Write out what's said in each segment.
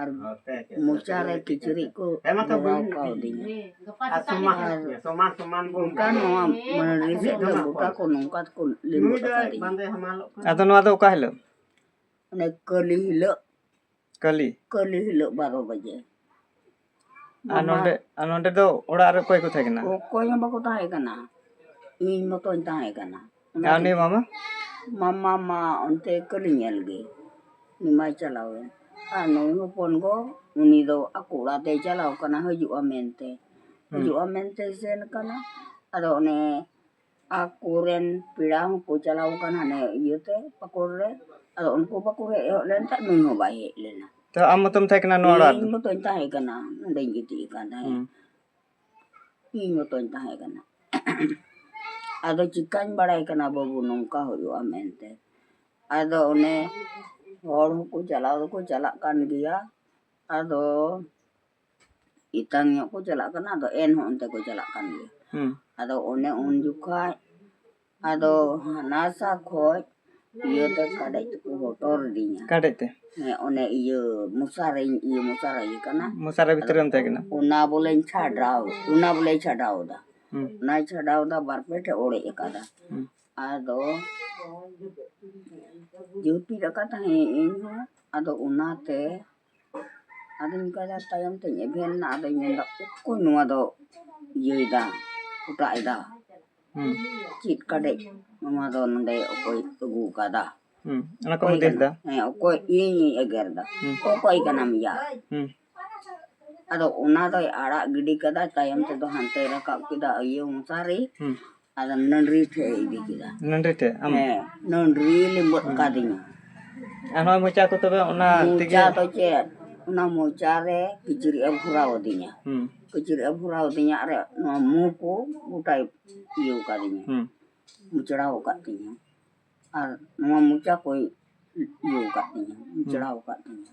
ᱟᱨ ᱢᱚᱪᱟᱨᱮ ᱠᱤᱪᱨᱤᱡ ᱠᱚ ᱞᱟᱜᱟᱣ ᱠᱟᱣᱫᱤᱧᱟ ᱟᱨ ᱜᱚᱴᱟ ᱱᱚᱣᱟ ᱢᱟᱹᱱᱨᱤ ᱥᱮᱫ ᱫᱚ ᱜᱚᱴᱟ ᱠᱚ ᱱᱚᱝᱠᱟ ᱛᱮᱠᱚ ᱞᱤᱢᱟᱹ ᱟᱠᱟᱫᱤᱧᱟ ᱟᱫᱚ ᱱᱚᱣᱟ ᱫᱚ ᱚᱠᱟ ᱦᱤᱞᱳᱜ ᱚᱱᱮ ᱠᱟᱹᱞᱤ ᱦᱤᱞᱳᱜ ᱠᱟᱹᱞᱤ ᱠᱟᱹᱞᱤ ᱦᱤᱞᱳᱜ ᱵᱟᱨᱚ ᱵᱟᱡᱮ ᱟᱨ ᱱᱚᱰᱮ ᱟᱨ ᱱᱚᱰᱮ ᱫᱚ ᱚᱲᱟᱜ ᱨᱮ ᱚᱠᱚᱭ ᱠᱚ ᱛᱟᱦᱮᱸ ᱠᱟᱱᱟ ᱚᱠᱚᱭ ᱦᱚᱸ ᱵᱟᱠᱚ ᱛᱟᱦᱮᱸ ᱠᱟᱱᱟ ᱤᱧ ᱢᱚᱛᱚᱧ ᱛᱟᱦᱮᱸ ᱠᱟᱱᱟ ᱟᱨ ᱩᱱᱤ ᱢᱟᱢᱟ ᱢᱟᱢᱟ ᱢᱟ ᱚᱱᱛᱮ ᱠᱟᱹᱞᱤ ᱧᱮᱞ ᱜᱮ ᱩᱱᱤ ᱢᱟᱭ ᱪᱟᱞᱟᱣ ᱮᱱ ᱟᱨ ᱱᱩᱭ ᱦᱚᱯᱚᱱ ᱜᱚ ᱩᱱᱤ ᱫᱚ ᱟᱠᱚ ᱚᱲᱟᱜ ᱛᱮᱭ ᱪᱟᱞᱟᱣ ᱠᱟᱱᱟ ᱦᱤᱡᱩᱜᱼᱟ ᱢᱮᱱᱛᱮ ᱦᱤᱡᱩᱜᱼᱟ ᱢᱮᱱᱛᱮ ᱥᱮᱱ ᱠᱟᱱᱟ ᱟᱫᱚ ᱚᱱᱮ ᱟᱠᱚ ᱨᱮᱱ ᱯᱮᱲᱟ ᱦᱚᱸᱠᱚ ᱪᱟᱞᱟᱣ ᱠᱟᱱᱟ ᱦᱟᱱᱮ ᱤᱭᱟᱹ ᱛᱮ ᱯᱟᱠᱩᱲ ᱨᱮ ᱟᱫᱚ ᱩᱱᱠᱩ ᱵᱟᱠᱚ ᱦᱮᱡ ᱦᱚᱫ ᱞᱮᱱ ᱠᱷᱟᱱ ᱱᱩᱭ ᱦᱚᱸ ᱵᱟᱭ ᱦᱮᱡ ᱞᱮᱱᱟ ᱛᱚ ᱟᱢ ᱢᱚᱛᱚᱢ ᱛᱟᱦᱮᱸ ᱠᱟᱱᱟ ᱱᱚᱣᱟ ᱚᱲᱟᱜ ᱤᱧ ᱢᱚᱛᱚᱧ ᱛᱟᱦᱮᱸ ᱠᱟᱱᱟ ᱱᱚᱰᱮᱧ ᱜᱤᱛᱤᱡ ᱟᱠᱟᱱ ᱛᱟᱦᱮᱸᱫ ᱤᱧ ᱢᱚᱛᱚᱧ ᱛᱟᱦᱮᱸ ᱠᱟᱱᱟ ᱟᱫᱚ ᱪᱤᱠᱟᱹᱧ ᱵᱟᱲᱟᱭ ᱠᱟᱱᱟ ᱵᱟᱹᱵᱩ ᱱᱚᱝᱠᱟ ᱦᱩᱭᱩᱜᱼᱟ ᱢᱮᱱᱛᱮ ᱟᱫᱚ ᱚᱱᱮ ᱦᱚᱲ ᱦᱚᱸᱠᱚ ᱪᱟᱞᱟᱣ ᱫᱚᱠᱚ ᱪᱟᱞᱟᱜ ᱠᱟᱱ ᱜᱮᱭᱟ ᱟᱫᱚ ᱮᱛᱟᱝ ᱧᱚᱜ ᱠᱚ ᱪᱟᱞᱟᱜ ᱠᱟᱱᱟ ᱟᱫᱚ ᱮᱱᱦᱚᱸ ᱚᱱᱛᱮ ᱠᱚ ᱪᱟᱞᱟᱜ ᱠᱟᱱ ᱜᱮᱭᱟ ᱦᱩᱸ ᱟᱫᱚ ᱚᱱᱮ ᱩᱱ ᱡᱚᱠᱷᱟᱡ ᱟᱫᱚ ᱦᱟᱱᱟᱥᱟ ᱠᱷᱚᱡ ᱤᱭᱟᱹ ᱛᱮ ᱠᱟᱰᱮᱡ ᱛᱮᱠᱚ ᱦᱚᱴᱚᱨ ᱞᱤᱫᱤᱧᱟ ᱠᱟᱰᱮᱡ ᱛᱮ ᱦᱮᱸ ᱚᱱᱮ ᱤᱭᱟᱹ ᱢᱚᱥᱟᱨᱤᱧ ᱤᱭᱟᱹ ᱢᱚᱥᱟᱨᱟ ᱤᱭᱟᱹ ᱠᱟᱱᱟ ᱢᱚᱥᱟᱨᱟ ᱵᱷᱤᱛᱨᱤ ᱨᱮᱢ ᱛᱟᱦᱮᱸ ᱠᱟᱱᱟ ᱚᱱᱟ ᱵᱚᱞᱮᱧ ᱪᱷᱟᱰᱟᱣ ᱚᱱᱟ ᱵᱚᱞᱮ ᱪᱷᱟᱰᱟᱣ ᱮᱫᱟ ᱦᱩᱸ ᱚᱱᱟᱭ ᱪᱷᱟᱰᱟᱣ ᱮᱫᱟ ᱵᱟᱨ ᱯᱮ ᱴᱷᱮᱡ ᱚᱲᱮᱡ ᱟᱠᱟᱫᱟ ᱦᱩᱸ ᱟᱫᱚ ᱡᱩᱛᱤ ᱞᱮᱠᱟ ᱛᱟᱦᱮᱸ ᱤᱧ ᱦᱚᱸ ᱟᱫᱚ ᱚᱱᱟᱛᱮ ᱟᱫᱚᱧ ᱚᱱᱠᱟᱭᱫᱟ ᱛᱟᱭᱚᱢ ᱛᱮᱧ ᱮᱵᱷᱮᱱ ᱮᱱᱟ ᱟᱫᱚᱧ ᱢᱮᱱᱫᱟ ᱚᱠᱚᱭ ᱱᱚᱣᱟ ᱫᱚ ᱤᱭᱟᱹᱭᱫᱟ ᱚᱴᱟᱜ ᱮᱫᱟ ᱦᱩᱸ ᱪᱮᱫ ᱠᱟᱰᱮᱡ ᱱᱚᱣᱟ ᱫᱚ ᱱᱚᱰᱮ ᱚᱠᱚᱭ ᱟᱹᱜᱩ ᱟᱠᱟᱫᱟ ᱦᱩᱸ ᱚᱱᱟ ᱠᱚ ᱫᱮᱥ ᱫᱟ ᱦᱮᱸ ᱚᱠᱚᱭ ᱤᱧᱤᱧ ᱮᱜᱮᱨ ᱫᱟ ᱦᱩᱸ ᱚᱠᱚᱭ ᱠᱟᱱᱟᱢ ᱭᱟ ᱦᱩᱸ ᱟᱫᱚ ᱚᱱᱟ ᱫᱚᱭ ᱟᱲᱟᱜ ᱜᱤᱰᱤ ᱠᱟᱫᱟ ᱛᱟᱭᱚᱢ ᱛᱮᱫᱚ ᱦᱟᱱᱛᱮ ᱨᱟᱠᱟᱵ ᱠᱮᱫᱟ ᱤᱭᱟᱹ ᱢᱚᱥᱟᱨᱤ ᱦᱩᱸ ᱟᱫᱚ ᱱᱟᱹᱰᱨᱤ ᱴᱷᱮᱡ ᱮ ᱤᱫᱤ ᱠᱮᱫᱟ ᱱᱟᱹᱰᱨᱤ ᱴᱷᱮᱡ ᱟᱢ ᱦᱮᱸ ᱱᱟᱹᱰᱨᱤ ᱞᱤᱢᱵᱟᱹᱫ ᱠᱟᱫᱤᱧᱟ ᱟᱨ ᱱᱚᱣᱟ ᱢᱚᱪᱟ ᱠᱚ ᱛᱚᱵᱮ ᱚᱱᱟ ᱛᱮᱜᱮ ᱢᱚᱪᱟ ᱫᱚ ᱪᱮᱫ ᱚᱱᱟ ᱢᱚᱪᱟ ᱨᱮ ᱠᱤᱪᱨᱤᱡ ᱮ ᱵᱷᱚᱨᱟᱣ ᱟᱹᱫᱤᱧᱟ ᱠᱤᱪᱨᱤᱡ ᱮ ᱵᱷᱚᱨᱟᱣ ᱟᱹᱫᱤᱧᱟ ᱟᱨ ᱱᱚᱣᱟ ᱢᱩ ᱠᱚ ᱜᱚᱴᱟᱭ ᱤᱭᱟᱹ ᱠᱟᱫᱤᱧᱟ ᱢᱩᱪᱲᱟᱣ ᱟᱠᱟᱫ ᱛᱤᱧᱟ ᱟᱨ ᱱᱚᱣᱟ ᱢᱚᱪᱟ ᱠᱚᱭ ᱤᱭᱟᱹ ᱟᱠᱟᱫ ᱛᱤᱧᱟ ᱢᱩᱪᱲᱟᱣ ᱟᱠᱟᱫ ᱛᱤᱧᱟ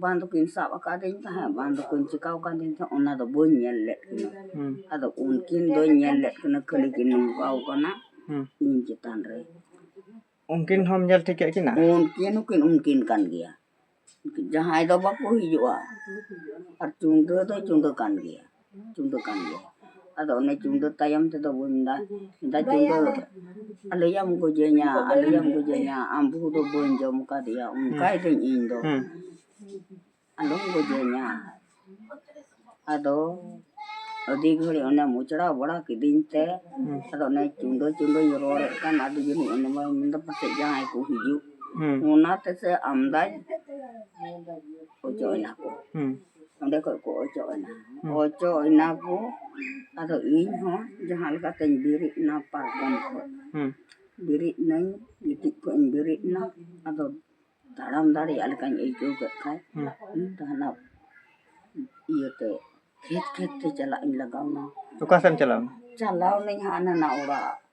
ᱵᱟᱝ ᱫᱚᱠᱤᱱ ᱥᱟᱵ ᱟᱠᱟᱫᱤᱧ ᱛᱟᱦᱮᱸᱫ ᱵᱟᱝ ᱫᱚᱠᱤᱱ ᱪᱤᱠᱟᱹ ᱟᱠᱟᱫᱤᱧ ᱛᱟᱦᱮᱸᱫ ᱚᱱᱟ ᱫᱚ ᱵᱟᱹᱧ ᱧᱮᱞ ᱞᱮᱫ ᱠᱤᱱᱟᱹ ᱟᱫᱚ ᱩᱱᱠᱤᱱ ᱫᱚᱧ ᱧᱮᱞ ᱞᱮᱫ ᱠᱤᱱᱟᱹ ᱠᱷᱟᱹᱞᱤ ᱠᱤᱱ ᱱᱚᱝᱠᱟ ᱟᱠᱟᱱᱟ ᱤᱧ ᱪᱮᱛᱟᱱ ᱨᱮ ᱩᱱᱠᱤᱱ ᱦᱚᱸᱢ ᱧᱮᱞ ᱴᱷᱤᱠ ᱠᱮᱫ ᱠᱤᱱᱟ ᱩᱱᱠᱤᱱ ᱦᱚᱸᱠᱤᱱ ᱩᱱᱠᱤᱱ ᱠᱟᱱ ᱜᱮᱭᱟ ᱡᱟᱦᱟᱸᱭ ᱫᱚ ᱵᱟᱠᱚ ᱦᱤᱡᱩᱜᱼᱟ ᱟᱨ ᱪᱩᱰᱟᱹ ᱫᱚ ᱪᱩᱰᱟᱹ ᱠᱟᱱ ᱜᱮᱭᱟ ᱪᱩᱰᱟᱹ ᱠᱟᱱ ᱜᱮᱭᱟ ᱟᱫᱚ ᱚᱱᱮ ᱪᱩᱰᱟᱹ ᱛᱟᱭᱚᱢ ᱛᱮᱫᱚ ᱵᱚᱱ ᱢᱮᱱᱫᱟ ᱫᱟ ᱪᱩᱰᱟᱹ ᱟᱞᱚᱭᱟᱢ ᱜᱚᱡᱮᱧᱟ ᱟᱞᱚᱭᱟᱢ ᱜᱚᱡᱮᱧᱟ ᱟᱢ ᱵᱟᱹᱦᱩ ᱫᱚ ᱵᱟᱹᱧ ᱡᱚᱢ ᱠᱟᱫᱮᱭᱟ ᱚᱱᱠᱟᱭ ᱫᱟᱹᱧ ᱤᱧ ᱫᱚ ᱟᱞᱚᱢ ᱜᱚᱡᱮᱧᱟ ᱟᱫᱚ ᱟᱹᱰᱤ ᱜᱷᱟᱹᱲᱤ ᱚᱱᱮ ᱢᱚᱪᱲᱟ ᱵᱟᱲᱟ ᱠᱤᱫᱤᱧ ᱛᱮ ᱟᱫᱚ ᱚᱱᱮ ᱪᱩᱰᱟᱹ ᱪᱩᱰᱟᱹᱧ ᱨᱚᱲᱮᱫ ᱠᱟᱱ ᱟᱫᱚ ᱡᱟᱹᱱᱤᱡ ᱚᱱᱮ ᱢᱟ ᱢᱮᱱᱫᱟ ᱯᱟᱥᱮᱡ ᱡᱟᱦᱟᱸᱭ ᱠᱚ ᱦᱤᱡᱩᱜ ᱚᱱᱟ ᱛᱮᱥᱮ ᱟᱢᱫᱟᱭ ᱚᱪᱚᱭ ᱱᱟᱠᱚ ᱚᱸᱰᱮ ᱠᱷᱚᱡ ᱠᱚ ᱚᱪᱚᱜ ᱮᱱᱟ ᱚᱪᱚᱜ ᱮᱱᱟ ᱠᱚ ᱟᱫᱚ ᱤᱧ ᱦᱚᱸ ᱡᱟᱦᱟᱸ ᱞᱮᱠᱟ ᱛᱤᱧ ᱵᱮᱨᱮᱫ ᱮᱱᱟ ᱯᱟᱨᱠᱚᱢ ᱠᱷᱚᱡ ᱵᱮᱨᱮᱫ ᱮᱱᱟᱹᱧ ᱜᱤᱛᱤᱡ ᱠᱷᱚᱡ ᱤᱧ ᱵᱮᱨᱮᱫ ᱮᱱᱟ ᱟᱫᱚ ᱛᱟᱲᱟᱢ ᱫᱟᱲᱮᱭᱟᱜ ᱞᱮᱠᱟᱧ ᱟᱹᱭᱠᱟᱹᱣ ᱠᱮᱫ ᱠᱷᱟᱡ ᱦᱟᱱᱟ ᱤᱭᱟᱹ ᱛᱮ ᱠᱷᱮᱛ ᱠᱷᱮᱛ ᱛᱮ ᱪᱟᱞᱟᱜ ᱤᱧ ᱞᱟᱜᱟᱣ ᱮᱱᱟ ᱚᱠᱟ ᱥᱮᱫ ᱮᱢ ᱪᱟᱞᱟᱣ ᱮᱱᱟ ᱪᱟᱞᱟᱣ ᱮᱱᱟᱹᱧ ᱦᱟᱱᱟ ᱚᱲᱟᱜ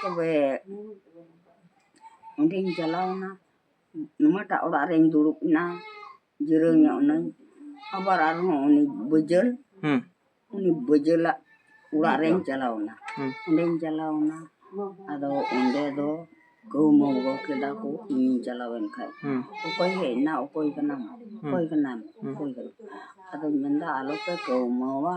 ᱛᱚᱵᱮ ᱚᱸᱰᱮᱧ ᱪᱟᱞᱟᱣᱱᱟ ᱱᱚᱣᱟᱴᱟᱜ ᱚᱲᱟᱜ ᱨᱮᱧ ᱫᱩᱲᱩᱵ ᱮᱱᱟ ᱡᱤᱨᱟᱹᱣ ᱧᱚᱜ ᱱᱟᱹᱧ ᱟᱵᱟᱨ ᱟᱨᱦᱚᱸ ᱩᱱᱤ ᱵᱟᱹᱡᱟᱹᱞ ᱦᱩᱸ ᱩᱱᱤ ᱵᱟᱹᱡᱟᱹᱞᱟᱜ ᱚᱲᱟᱜ ᱨᱮᱧ ᱪᱟᱞᱟᱣᱱᱟ ᱦᱩᱸ ᱚᱸᱰᱮᱧ ᱪᱟᱞᱟᱣᱱᱟ ᱟᱫᱚ ᱚᱸᱰᱮ ᱫᱚ ᱠᱟᱹᱣᱢᱟᱹ ᱜᱚ ᱠᱮᱫᱟ ᱠᱚ ᱤᱧᱤᱧ ᱪᱟᱞᱟᱣᱮᱱ ᱠᱷᱟᱡ ᱦᱩᱸ ᱚᱠᱚᱭ ᱦᱮᱡ ᱮᱱᱟ ᱚᱠᱚᱭ ᱠᱟᱱᱟᱢ ᱚᱠᱚᱭ ᱠᱟᱱᱟᱢ ᱚᱠᱚᱭ ᱠᱟᱱᱟᱢ ᱟᱫᱚᱧ ᱢᱮᱱᱫᱟ ᱟᱞᱚᱯᱮ ᱠᱟᱹᱣᱢᱟᱹᱣᱟ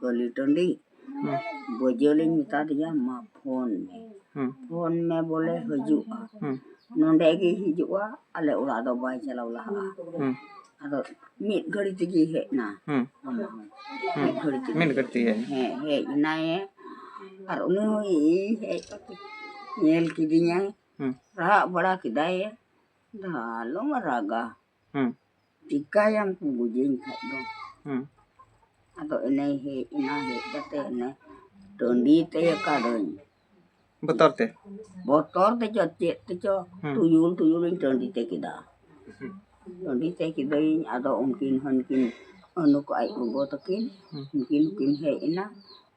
ᱜᱚᱞᱤ ᱴᱟᱺᱰᱤ ᱵᱟᱹᱡᱟᱹᱞᱤᱧ ᱢᱮᱛᱟ ᱫᱮᱭᱟ ᱢᱟ ᱯᱷᱳᱱ ᱢᱮ ᱯᱷᱳᱱ ᱢᱮ ᱵᱚᱞᱮ ᱦᱤᱡᱩᱜᱼᱟ ᱱᱚᱰᱮ ᱜᱮ ᱦᱤᱡᱩᱜᱼᱟ ᱟᱞᱮ ᱚᱲᱟᱜ ᱫᱚ ᱵᱟᱭ ᱪᱟᱞᱟᱣ ᱞᱟᱦᱟᱜᱼᱟ ᱟᱫᱚ ᱢᱤᱫ ᱜᱷᱟᱹᱲᱤ ᱛᱮᱜᱮ ᱦᱮᱡ ᱮᱱᱟ ᱚᱱᱟ ᱦᱚᱸ ᱢᱤᱫ ᱜᱷᱟᱹᱲᱤ ᱛᱮᱜᱮ ᱢᱤᱫ ᱜᱷᱟᱹᱲᱤ ᱛᱮᱜᱮ ᱦᱮᱸ ᱦᱮᱡ ᱮᱱᱟᱭᱮ ᱟᱨ ᱩᱱᱤ ᱦᱚᱸ ᱤᱧ ᱦᱮᱡ ᱠᱟᱛᱮ ᱧᱮᱞ ᱠᱤᱫᱤᱧᱟᱭ ᱨᱟᱜ ᱵᱟᱲᱟ ᱠᱮᱫᱟᱭᱮ ᱟᱞᱚᱢ ᱨᱟᱜᱟ ᱦᱩᱸ ᱪᱤᱠᱟᱭᱟᱢ ᱠᱚ ᱜᱚᱡᱮᱧ ᱠᱷᱟᱡ ᱫᱚ ᱦᱩᱸ ᱟᱫᱚ ᱮᱱᱮ ᱦᱮᱡ ᱮᱱᱟ ᱦᱮᱡ ᱠᱟᱛᱮ ᱮᱱᱮ ᱴᱟᱺᱰᱤ ᱛᱮ ᱠᱟᱹᱫᱟᱹᱧ ᱵᱚᱛᱚᱨ ᱛᱮ ᱵᱚᱛᱚᱨ ᱛᱮᱪᱚ ᱪᱮᱫ ᱛᱮᱪᱚ ᱦᱩᱸ᱾ ᱴᱩᱭᱩᱞ ᱴᱩᱭᱩᱞᱤᱧ ᱴᱟᱺᱰᱤ ᱛᱮ ᱠᱮᱫᱟ ᱦᱩᱸ᱾ ᱴᱟᱺᱰᱤ ᱛᱮ ᱠᱮᱫᱟᱹᱧ ᱟᱫᱚ ᱩᱱᱠᱤᱱ ᱦᱚᱸ ᱩᱱᱠᱤᱱ ᱱᱩᱠᱩ ᱟᱡ ᱜᱚᱜᱚ ᱛᱟᱹᱠᱤᱱ ᱦᱩᱸ᱾ ᱩᱱᱠᱤᱱ ᱦᱚᱸᱠᱤᱱ ᱦᱮᱡ ᱮᱱᱟ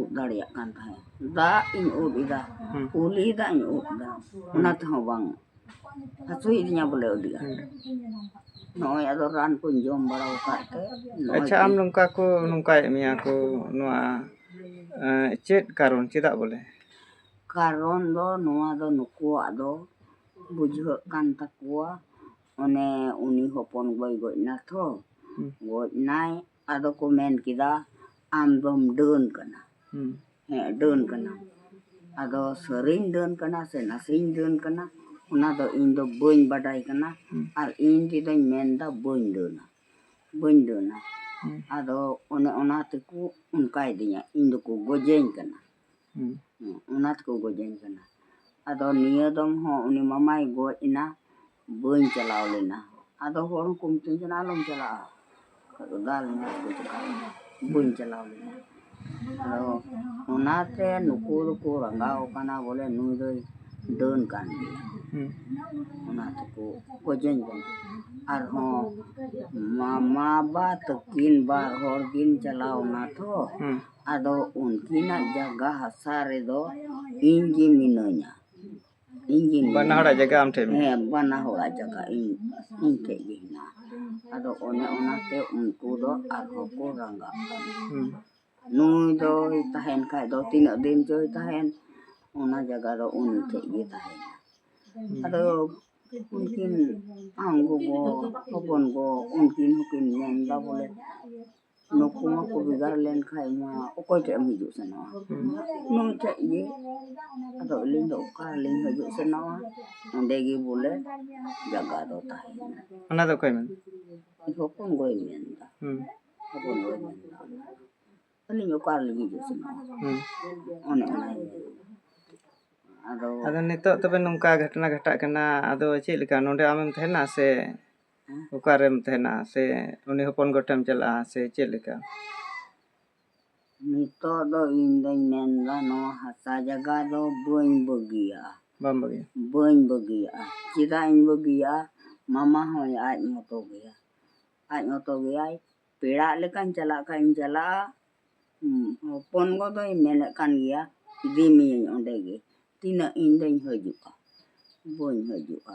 ᱩᱵ ᱫᱟᱲᱮᱭᱟᱜ ᱠᱟᱱ ᱛᱟᱦᱮᱸᱫ ᱫᱟᱜ ᱤᱧ ᱩᱵ ᱮᱫᱟ ᱠᱩᱞᱦᱤ ᱫᱟᱜ ᱤᱧ ᱩᱵ ᱮᱫᱟ ᱚᱱᱟ ᱛᱮᱦᱚᱸ ᱵᱟᱝ ᱦᱟᱹᱥᱩᱭᱮᱫᱤᱧᱟ ᱵᱚᱞᱮ ᱟᱹᱰᱤ ᱟᱸᱴ ᱱᱚᱜᱼᱚᱭ ᱟᱫᱚ ᱨᱟᱱ ᱠᱚᱧ ᱡᱚᱢ ᱵᱟᱲᱟ ᱟᱠᱟᱫ ᱛᱮ ᱱᱚᱜᱼᱚᱭ ᱟᱪᱪᱷᱟ ᱟᱢ ᱱᱚᱝᱠᱟ ᱠᱚ ᱱᱚᱝᱠᱟᱭᱮᱫ ᱢᱮᱭᱟ ᱠᱚ ᱱᱚᱣᱟ ᱮᱸ, ᱪᱮᱫ ᱠᱟᱨᱚᱱ ᱪᱮᱫᱟᱜ ᱵᱚᱞᱮ ᱠᱟᱨᱚᱱ ᱫᱚ ᱱᱚᱣᱟ ᱫᱚ ᱱᱩᱠᱩᱣᱟᱜ ᱫᱚ ᱵᱩᱡᱷᱟᱹᱜ ᱠᱟᱱ ᱛᱟᱠᱚᱣᱟ ᱚᱱᱮ ᱩᱱᱤ ᱦᱚᱯᱚᱱ ᱜᱚᱭ ᱜᱚᱡ ᱱᱟ ᱛᱚ ᱦᱩᱸ᱾ ᱜᱚᱡ ᱱᱟᱭ ᱟᱫᱚ ᱠᱚ ᱢᱮᱱ ᱠᱮᱫᱟ ᱟᱢ ᱫᱚᱢ ᱰᱟᱹᱱ ᱠᱟᱱᱟ ᱦᱮᱸ ᱰᱟᱹᱱ ᱠᱟᱱᱟ ᱟᱫᱚ ᱥᱟᱹᱨᱤᱧ ᱰᱟᱹᱱ ᱠᱟᱱᱟ ᱥᱮ ᱱᱟᱥᱮᱧ ᱰᱟᱹᱱ ᱠᱟᱱᱟ ᱚᱱᱟ ᱫᱚ ᱤᱧ ᱫᱚ ᱵᱟᱹᱧ ᱵᱟᱰᱟᱭ ᱠᱟᱱᱟ ᱟᱨ ᱤᱧ ᱛᱮᱫᱚᱧ ᱢᱮᱱᱫᱟ ᱵᱟᱹᱧ ᱰᱟᱹᱱᱟ ᱵᱟᱹᱧ ᱰᱟᱹᱱᱟ ᱟᱫᱚ ᱚᱱᱮ ᱚᱱᱟ ᱛᱮᱠᱚ ᱚᱱᱠᱟᱭᱮᱫᱤᱧᱟ ᱤᱧ ᱫᱚᱠᱚ ᱜᱚᱡᱮᱧ ᱠᱟᱱᱟ ᱚᱱᱟ ᱛᱮᱠᱚ ᱜᱚᱡᱟᱹᱧ ᱠᱟᱱᱟ ᱟᱫᱚ ᱱᱤᱭᱟᱹ ᱫᱚᱢ ᱦᱚᱸ ᱩᱱᱤ ᱢᱟᱢᱟᱭ ᱜᱚᱡ ᱮᱱᱟ ᱵᱟᱹᱧ ᱪᱟᱞᱟᱣ ᱞᱮᱱᱟ ᱟᱫᱚ ᱦᱚᱲ ᱦᱚᱸᱠᱚ ᱢᱤᱛᱟᱹᱧ ᱠᱟᱱᱟ ᱟᱞᱚᱢ ᱪᱟᱞᱟᱜᱼᱟ ᱵᱟᱹᱧ ᱪᱟᱞᱟᱣ ᱞᱮᱱᱟ ᱟᱫᱚ ᱚᱱᱟᱛᱮ ᱱᱩᱠᱩ ᱫᱚᱠᱚ ᱨᱟᱸᱜᱟᱣ ᱠᱟᱱᱟ ᱵᱚᱞᱮ ᱱᱩᱭ ᱫᱚᱭ ᱰᱟᱹᱱ ᱠᱟᱱ ᱜᱮᱭᱟ ᱚᱱᱟ ᱛᱮᱠᱚ ᱜᱚᱡᱟᱹᱧ ᱠᱟᱱᱟ ᱟᱨᱦᱚᱸ ᱢᱟᱢᱟ ᱵᱟ ᱛᱟᱹᱠᱤᱱ ᱵᱟᱨ ᱦᱚᱲ ᱠᱤᱱ ᱪᱟᱞᱟᱣ ᱮᱱᱟ ᱛᱚ ᱟᱫᱚ ᱩᱱᱠᱤᱱᱟᱜ ᱡᱟᱭᱜᱟ ᱦᱟᱥᱟ ᱨᱮᱫᱚ ᱤᱧ ᱜᱮ ᱢᱤᱱᱟᱹᱧᱟ ᱤᱧ ᱜᱮ ᱵᱟᱱᱟ ᱢᱤᱱᱟᱹᱧᱟ᱾ ᱦᱚᱲᱟᱜ ᱡᱟᱭᱜᱟ ᱟᱢ ᱴᱷᱮᱱ ᱢᱮᱱᱟᱜᱼᱟ᱾ ᱦᱮᱸ ᱵᱟᱱᱟ ᱦᱚᱲᱟᱜ ᱡᱟᱭᱜᱟ ᱤᱧ ᱤᱧ ᱴᱷᱮᱡ ᱜᱮ ᱦᱮᱱᱟᱜᱼᱟ ᱟᱫᱚ ᱚᱱᱮ ᱚᱱᱟᱛᱮ ᱩᱱᱠᱩ ᱫᱚ ᱟᱨᱦᱚᱸ ᱠᱚ ᱨᱟᱸᱜᱟᱜ ᱠᱟᱱᱟ ᱦᱩᱸ᱾ ᱱᱩᱭ ᱫᱚᱭ ᱛᱟᱦᱮᱱ ᱠᱷᱟᱡ ᱫᱚ ᱛᱤᱱᱟᱹᱜ ᱫᱤᱱ ᱪᱚᱭ ᱛᱟᱦᱮᱱ ᱚᱱᱟ ᱡᱟᱭᱜᱟ ᱫᱚ ᱩᱱᱤ ᱴᱷᱮᱡ ᱜᱮ ᱛᱟᱦᱮᱱᱟ ᱟᱫᱚ ᱩᱱᱠᱤᱱ ᱟᱢ ᱜᱚᱜᱚ ᱦᱚᱯᱚᱱ ᱜᱚ ᱩᱱᱠᱤᱱ ᱦᱚᱸᱠᱤᱱ ᱢᱮᱱᱫᱟ ᱵᱚᱞᱮ ᱱᱩᱠᱩ ᱢᱟᱠᱚ ᱵᱷᱮᱜᱟᱨ ᱞᱮᱱᱠᱷᱟᱡ ᱢᱟ ᱚᱠᱚᱭ ᱴᱷᱮᱡ ᱮᱢ ᱦᱤᱡᱩᱜ ᱥᱮᱱᱚᱜᱼᱟ ᱱᱩᱭ ᱴᱷᱮᱡ ᱜᱮ ᱟᱫᱚ ᱟᱹᱞᱤᱧ ᱫᱚ ᱚᱠᱟ ᱨᱮᱞᱤᱧ ᱦᱤᱡᱩᱜ ᱥᱮᱱᱚᱜᱼᱟ ᱚᱸᱰᱮ ᱜᱮ ᱵᱚᱞᱮ ᱡᱟᱭᱜᱟ ᱫᱚ ᱛᱟᱦᱮᱱᱟ ᱚᱱᱟ ᱫᱚ ᱚᱠᱚᱭ ᱢᱮᱱᱫᱟ ᱦᱚᱯᱚᱱ ᱜᱚᱭ ᱢᱮᱱᱫᱟ ᱦᱚᱯᱚᱱ ᱜᱚᱭ ᱢᱮᱱᱫᱟ ᱟᱹᱞᱤᱧ ᱚᱠᱟ ᱨᱮᱞᱤᱧ ᱦᱤᱡᱩᱜ ᱥᱮᱱᱚᱜᱼᱟ ᱚᱱᱮ ᱚᱱᱟᱭ ᱢᱮᱱᱫᱟ ᱟᱫᱚ ᱟᱫᱚ ᱱᱤᱛᱚᱜ ᱛᱚᱵᱮ ᱱᱚᱝᱠᱟ ᱜᱷᱚᱴᱚᱱᱟ ᱜᱷᱚᱴᱟᱜ ᱠᱟᱱᱟ ᱟᱫᱚ ᱪᱮᱫ ᱞᱮᱠᱟ ᱱᱚᱰᱮ ᱟᱢᱮᱢ ᱛᱟᱦᱮᱱᱟ ᱥᱮ ᱚᱠᱟᱨᱮᱢ ᱛᱟᱦᱮᱱᱟ ᱥᱮ ᱩᱱᱤ ᱦᱚᱯᱚᱱ ᱜᱚᱴᱮᱢ ᱪᱟᱞᱟᱜᱼᱟ ᱥᱮ ᱪᱮᱫ ᱞᱮᱠᱟ ᱱᱤᱛᱚᱜ ᱫᱚ ᱤᱧ ᱫᱚᱧ ᱢᱮᱱᱫᱟ ᱱᱚᱣᱟ ᱦᱟᱥᱟ ᱡᱟᱭᱜᱟ ᱫᱚ ᱵᱟᱹᱧ ᱵᱟᱹᱜᱤᱭᱟᱜᱼᱟ ᱵᱟᱢ ᱵᱟᱹᱜᱤᱭᱟ ᱵᱟᱹᱧ ᱵᱟᱹᱜᱤᱭᱟᱜᱼᱟ ᱪᱮᱫᱟᱜ ᱤᱧ ᱵᱟᱹᱜᱤᱭᱟᱜᱼᱟ ᱢᱟᱢᱟ ᱦᱚᱸ ᱟᱡ ᱢᱚᱛᱚ ᱜᱮᱭᱟ ᱟᱡ ᱢᱚᱛᱚ ᱜᱮᱭᱟᱭ ᱯᱮᱲᱟᱜ ᱞᱮᱠᱟᱧ ᱪᱟᱞᱟᱜ ᱠᱷᱟᱡ ᱤᱧ ᱪᱟᱞᱟᱜᱼᱟ ᱦᱚᱯᱚᱱ ᱜᱚ ᱫᱚᱭ ᱢᱮᱱᱮᱫ ᱠᱟᱱ ᱜᱮᱭᱟ ᱤᱫᱤ ᱢᱤᱭᱟᱹᱧ ᱚᱸᱰᱮ ᱜᱮ ᱛᱤᱱᱟᱹᱜ ᱤᱧ ᱫᱚᱧ ᱦᱤᱡᱩᱜᱼᱟ ᱵᱟᱹᱧ ᱦᱤᱡᱩᱜᱼᱟ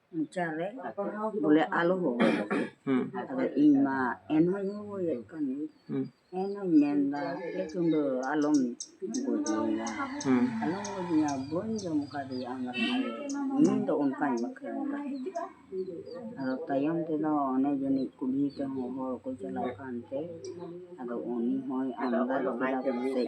ᱢᱚᱪᱟ ᱨᱮ ᱵᱚᱞᱮ ᱟᱞᱚ ᱦᱚᱦᱚᱭ ᱢᱟ ᱦᱩᱸ ᱟᱫᱚ ᱤᱧ ᱢᱟ ᱮᱱᱦᱚᱧ ᱦᱚᱦᱚᱭᱮᱫ ᱠᱟᱱ ᱜᱮ ᱦᱩᱸ ᱮᱱᱦᱚᱧ ᱢᱮᱱᱫᱟ ᱮ ᱪᱩᱸᱫᱟᱹ ᱟᱞᱚᱢ ᱜᱚᱡᱮᱧᱟ ᱦᱩᱸ ᱟᱞᱚᱢ ᱜᱚᱡᱮᱧᱟ ᱵᱟᱹᱧ ᱡᱚᱢ ᱠᱟᱫᱮᱭᱟ ᱟᱢᱨᱮᱱ ᱟᱭᱳ ᱤᱧ ᱫᱚ ᱚᱱᱠᱟᱧ ᱵᱟᱠᱷᱮᱲ ᱮᱫᱟ ᱟᱫᱚ ᱛᱟᱭᱚᱢ ᱛᱮᱫᱚ ᱚᱱᱮ ᱡᱟᱹᱱᱤᱡ ᱠᱩᱞᱦᱤ ᱛᱮᱦᱚᱸ ᱦᱚᱲ ᱠᱚ ᱪᱟᱞᱟᱜ ᱠᱟᱱᱛᱮ ᱟᱫᱚ ᱩᱱᱤ ᱦᱚᱸᱭ ᱟᱢᱫᱟ ᱠᱮᱫᱟ ᱯᱟᱥᱮᱡ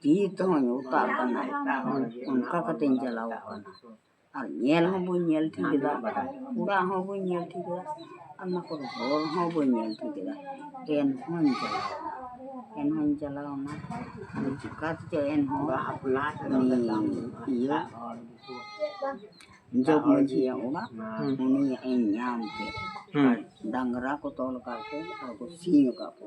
ᱛᱤ ᱛᱮᱦᱚᱧ ᱚᱛᱟ ᱠᱟᱱᱟ ᱚᱱᱠᱟ ᱠᱟᱛᱮᱧ ᱪᱟᱞᱟᱣ ᱠᱟᱱᱟ ᱟᱨ ᱧᱮᱞ ᱦᱚᱸ ᱵᱟᱹᱧ ᱧᱮᱞ ᱴᱷᱤᱠ ᱞᱮᱫᱟ ᱚᱲᱟᱜ ᱦᱚᱸ ᱵᱟᱹᱧ ᱧᱮᱞ ᱴᱷᱤᱠ ᱞᱮᱫᱟ ᱟᱨ ᱚᱱᱟ ᱠᱚᱨᱮ ᱦᱚᱲ ᱦᱚᱸ ᱵᱟᱹᱧ ᱧᱮᱞ ᱴᱷᱤᱠ ᱞᱮᱫᱟ ᱮᱱ ᱦᱚᱸᱧ ᱪᱟᱞᱟᱣ ᱮᱱᱟ ᱮᱱ ᱦᱚᱸᱧ ᱪᱟᱞᱟᱣ ᱮᱱᱟ ᱟᱫᱚ ᱪᱤᱠᱟᱹ ᱛᱮᱪᱚ ᱮᱱ ᱦᱚᱸ ᱤᱭᱟᱹ ᱡᱚᱜᱽ ᱢᱟᱹᱡᱷᱤᱭᱟᱜ ᱚᱲᱟᱜ ᱩᱱᱤᱭᱟᱜ ᱤᱧ ᱧᱟᱢ ᱠᱮᱫ ᱰᱟᱝᱨᱟ ᱠᱚ ᱛᱚᱞ ᱟᱠᱟᱫ ᱠᱚ ᱟᱨ ᱠᱚ ᱥᱤᱧ ᱟᱠᱟᱫ ᱠᱚ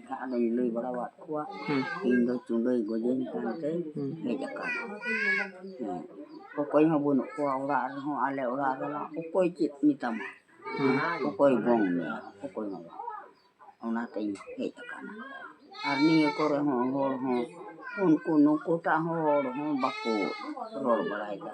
ᱚᱱᱠᱟ ᱟᱫᱚᱧ ᱞᱟᱹᱭ ᱵᱟᱲᱟᱣᱟᱫ ᱠᱚᱣᱟ ᱤᱧ ᱫᱚ ᱪᱩᱰᱟᱹᱭ ᱜᱚᱡᱟᱹᱧ ᱠᱟᱱᱛᱮ ᱦᱮᱡ ᱟᱠᱟᱱᱟ ᱦᱮᱸ ᱚᱠᱚᱭ ᱦᱚᱸ ᱵᱟᱹᱱᱩᱜ ᱠᱚᱣᱟ ᱚᱲᱟᱜ ᱨᱮᱦᱚᱸ ᱟᱞᱮ ᱚᱲᱟᱜ ᱨᱮᱢᱟ ᱚᱠᱚᱭ ᱪᱮᱫ ᱢᱮᱛᱟᱢᱟ ᱚᱠᱚᱭ ᱜᱚᱝ ᱢᱮᱭᱟ ᱚᱠᱚᱭ ᱦᱚᱸ ᱵᱟᱝ ᱚᱱᱟᱛᱤᱧ ᱦᱮᱡ ᱟᱠᱟᱱᱟ ᱟᱨ ᱱᱤᱭᱟᱹ ᱠᱚᱨᱮ ᱦᱚᱸ ᱦᱚᱲ ᱦᱚᱸ ᱩᱱᱠᱩ ᱱᱩᱠᱩᱴᱟᱜ ᱦᱚᱲ ᱦᱚᱸ ᱵᱟᱠᱚ ᱨᱚᱲ ᱵᱟᱲᱟᱭᱮᱫᱟ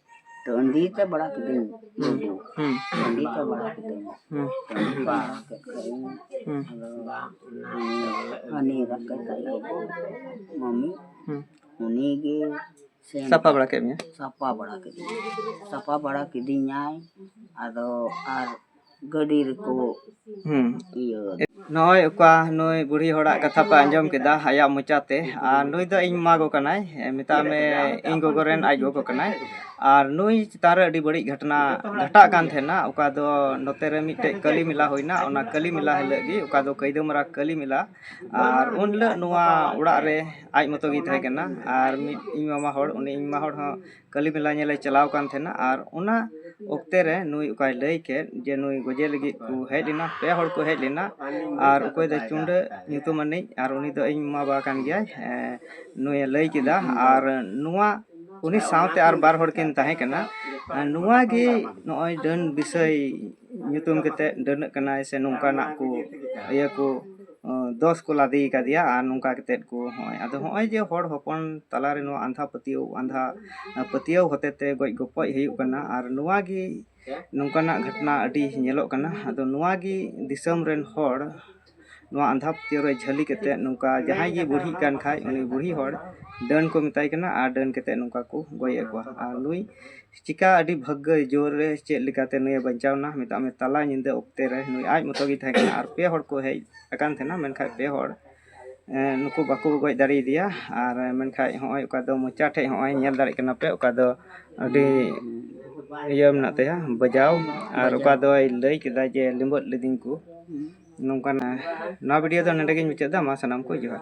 ᱴᱟᱺᱰᱤ ᱛᱮ ᱵᱟᱲᱟ ᱠᱤᱫᱟᱹᱧ ᱞᱩᱰᱩ ᱴᱟᱺᱰᱤ ᱛᱮ ᱵᱟᱲᱟ ᱠᱤᱫᱟᱹᱧ ᱴᱟᱺᱰᱤ ᱛᱮ ᱵᱟᱲᱟ ᱠᱮᱫ ᱠᱷᱟᱱᱤᱧ ᱦᱟᱹᱱᱤ ᱜᱟᱛᱮ ᱛᱟᱞᱮ ᱢᱟᱹᱢᱤ ᱩᱱᱤ ᱜᱮ ᱥᱮᱱ ᱥᱟᱯᱷᱟ ᱵᱟᱲᱟ ᱠᱮᱫ ᱢᱮᱭᱟ ᱥᱟᱯᱷᱟ ᱵᱟᱲᱟ ᱠᱤᱫᱤᱧᱟ ᱥᱟᱯᱷᱟ ᱵᱟᱲᱟ ᱠᱤᱫᱤᱧᱟᱭ ᱟᱫᱚ ᱟᱨ ᱜᱟᱹᱰᱤ ᱨᱮᱠᱚ ᱤᱭᱟᱹ ᱱᱚᱜᱼᱚᱭ ᱚᱠᱟ ᱱᱩᱭ ᱵᱩᱲᱦᱤ ᱦᱚᱲᱟᱜ ᱠᱟᱛᱷᱟ ᱯᱮ ᱟᱸᱡᱚᱢ ᱠᱮᱫᱟ ᱟᱭᱟᱜ ᱢᱚᱪᱟᱛᱮ ᱟᱨ ᱱᱩᱭ ᱫᱚ ᱤᱧ ᱢᱟᱢᱟ ᱜᱚ ᱠᱟᱱᱟᱭ ᱢᱮᱛᱟᱭ ᱢᱮ ᱤᱧ ᱜᱚᱜᱚ ᱨᱮᱱ ᱟᱡ ᱜᱚᱜᱚ ᱠᱟᱱᱟᱭ ᱟᱨ ᱱᱩᱭ ᱪᱮᱛᱟᱱ ᱨᱮ ᱟᱹᱰᱤ ᱵᱟᱹᱲᱤᱡ ᱜᱷᱚᱴᱚᱱᱟ ᱜᱷᱚᱴᱟᱜ ᱠᱟᱱ ᱛᱟᱦᱮᱱᱟ ᱚᱠᱟ ᱫᱚ ᱱᱚᱛᱮ ᱨᱮ ᱢᱤᱫᱴᱮᱡ ᱠᱟᱹᱞᱤ ᱢᱮᱞᱟ ᱦᱩᱭᱱᱟ ᱚᱱᱟ ᱠᱟᱹᱞᱤ ᱢᱮᱞᱟ ᱦᱤᱞᱳᱜ ᱜᱮ ᱚᱠᱟ ᱫᱚ ᱠᱟᱹᱭᱫᱟᱹᱢᱟᱨᱟ ᱠᱟᱹᱞᱤ ᱢᱮᱞᱟ ᱟᱨ ᱩᱱ ᱦᱤᱞᱳᱜ ᱱᱚᱣᱟ ᱚᱲᱟᱜ ᱨᱮ ᱟᱡ ᱢᱚᱛᱚ ᱜᱮ ᱛᱟᱦᱮᱸ ᱠᱟᱱᱟ ᱟᱨ ᱢᱤᱫ ᱤᱧ ᱢᱟᱢᱟ ᱦᱚᱲ ᱩᱱᱤ ᱤᱧ ᱢᱟᱢᱟ ᱦᱚᱲ ᱦᱚᱸ ᱠᱟᱹᱞᱤ ᱢᱮᱞᱟ ᱧᱮᱞᱮ ᱪᱟᱞᱟᱣ ᱟᱠᱟᱱ ᱛᱟᱦᱮᱱᱟ ᱟᱨ ᱚᱱᱟ ᱚᱠᱛᱮ ᱨᱮ ᱱᱩᱭ ᱚᱠᱟᱭ ᱞᱟᱹᱭ ᱠᱮᱫ ᱡᱮ ᱱᱩᱭ ᱜᱚᱡᱮ ᱞᱟᱹᱜᱤᱫ ᱠᱚ ᱦᱮᱡ ᱞᱮᱱᱟ ᱯᱮ ᱦᱚᱲ ᱠᱚ ᱦᱮᱡ ᱞᱮᱱᱟ ᱟᱨ ᱚᱠᱚᱭ ᱫᱚ ᱪᱩᱰᱟᱹ ᱧᱩᱛᱩᱢ ᱟᱹᱱᱤᱡ ᱟᱨ ᱩᱱᱤ ᱫᱚ ᱤᱧ ᱢᱟᱢᱟ ᱵᱟ ᱠᱟᱱ ᱜᱮᱭᱟᱭ ᱱᱩᱭᱮ ᱞᱟᱹᱭ ᱠᱮᱫᱟ ᱟᱨ ᱱᱚᱣᱟ ᱩᱱᱤ ᱥᱟᱶᱛᱮ ᱟᱨ ᱵᱟᱨ ᱦᱚᱲ ᱠᱤᱱ ᱛᱟᱦᱮᱸ ᱠᱟᱱᱟ ᱱᱚᱣᱟ ᱜᱮ ᱱᱚᱜᱼᱚᱭ ᱰᱟᱹᱱ ᱵᱤᱥᱚᱭ ᱧᱩᱛᱩᱢ ᱠᱟᱛᱮᱫ ᱰᱟᱹᱱᱟᱹᱜ ᱠᱟᱱᱟᱭ ᱥᱮ ᱱᱚᱝᱠᱟᱱᱟᱜ ᱠᱚ ᱤᱭᱟᱹ ᱠᱚ ᱫᱚᱥ ᱠᱚ ᱞᱟᱫᱮ ᱠᱟᱫᱮᱭᱟ ᱟᱨ ᱱᱚᱝᱠᱟ ᱠᱟᱛᱮᱫ ᱠᱚ ᱦᱚᱸᱜᱼᱚᱭ ᱟᱫᱚ ᱦᱚᱸᱜᱼᱚᱭ ᱡᱮ ᱦᱚᱲ ᱦᱚᱯᱚᱱ ᱛᱟᱞᱟ ᱨᱮ ᱱᱚᱣᱟ ᱟᱸᱫᱷᱟ ᱯᱟᱹᱛᱭᱟᱹᱣ ᱟᱸᱫᱷᱟ ᱯᱟᱹᱛᱭᱟᱹᱣ ᱦᱚᱛᱮ ᱛᱮ ᱜᱚᱡ ᱜᱚᱯᱚᱡ ᱦᱩᱭᱩᱜ ᱠᱟᱱᱟ ᱟᱨ ᱱᱚᱣᱟ ᱜᱮ ᱱᱚᱝᱠᱟᱱᱟᱜ ᱜᱷᱚᱴᱚᱱᱟ ᱟᱹᱰᱤ ᱧᱮᱞᱚᱜ ᱠᱟᱱᱟ ᱟᱫᱚ ᱱᱚᱣᱟ ᱜᱮ ᱫᱤᱥᱚᱢ ᱨᱮᱱ ᱦᱚᱲ ᱱᱚᱣᱟ ᱟᱸᱫᱷᱟ ᱯᱟᱹᱛᱭᱟᱹᱣ ᱨᱮ ᱡᱷᱟᱹᱞᱤ ᱠᱟᱛᱮᱫ ᱱᱚᱝᱠᱟ ᱡᱟᱦᱟᱸᱭ ᱜᱮ ᱵᱩᱲᱦᱤᱜ ᱠᱟᱱ ᱠᱷᱟᱡ ᱩᱱᱤ ᱵᱩᱲᱦᱤ ᱦᱚᱲ ᱰᱟᱹᱱ ᱠᱚ ᱢᱮᱛᱟᱭ ᱠᱟᱱᱟ ᱟᱨ ᱰᱟᱹᱱ ᱠᱟᱛᱮᱫ ᱱᱚᱝᱠᱟ ᱠᱚ ᱜᱚᱡ ᱮᱫ ᱠᱚᱣᱟ ᱟᱨ ᱱᱩᱭ ᱪᱤᱠᱟᱹ ᱟᱹᱰᱤ ᱵᱷᱟᱹᱜᱽᱜᱚᱭ ᱡᱳᱨ ᱨᱮ ᱪᱮᱫ ᱞᱮᱠᱟᱛᱮ ᱱᱩᱭᱮ ᱵᱟᱧᱪᱟᱣ ᱮᱱᱟ ᱢᱮᱛᱟᱜ ᱢᱮ ᱛᱟᱞᱟ ᱧᱤᱫᱟᱹ ᱚᱠᱛᱮ ᱨᱮ ᱱᱩᱭ ᱟᱡ ᱢᱚᱛᱚ ᱜᱮ ᱛᱟᱦᱮᱸ ᱠᱟᱱᱟ ᱟᱨ ᱯᱮ ᱦᱚᱲ ᱠᱚ ᱦᱮᱡ ᱟᱠᱟᱱ ᱛᱟᱦᱮᱱᱟ ᱢᱮᱱᱠᱷᱟᱱ ᱯᱮ ᱦᱚᱲ ᱱᱩᱠᱩ ᱵᱟᱠᱚ ᱜᱚᱡ ᱫᱟᱲᱮᱭᱟᱫᱮᱭᱟ ᱟᱨ ᱢᱮᱱᱠᱷᱟᱱ ᱦᱚᱸᱜᱼᱚᱭ ᱚᱠᱟ ᱫᱚ ᱢᱚᱪᱟ ᱴᱷᱮᱱ ᱦᱚᱸᱜᱼᱚᱭ ᱧᱮᱞ ᱫᱟᱲᱮᱭᱟᱜ ᱠᱟᱱᱟ ᱯᱮ ᱚᱠᱟ ᱫᱚ ᱟᱹᱰᱤ ᱤᱭᱟᱹ ᱢᱮᱱᱟᱜ ᱛᱟᱭᱟ ᱵᱟᱡᱟᱣ ᱟᱨ ᱚᱠᱟ ᱫᱚᱭ ᱞᱟᱹᱭ ᱠᱮᱫᱟ ᱡᱮ ᱞᱤᱸᱵᱟᱹᱫ ᱞᱤᱫᱤᱧ ᱠᱚ ᱱᱚᱝᱠᱟᱱᱟᱜ ᱱᱚᱣᱟ ᱵᱷᱤᱰᱤᱭᱳ ᱫᱚ ᱱᱚᱰᱮ ᱜᱮᱧ ᱢᱩᱪᱟᱹᱫ ᱮᱫᱟ ᱢᱟ ᱥᱟᱱᱟᱢ ᱠᱚ ᱡᱚᱦᱟᱨ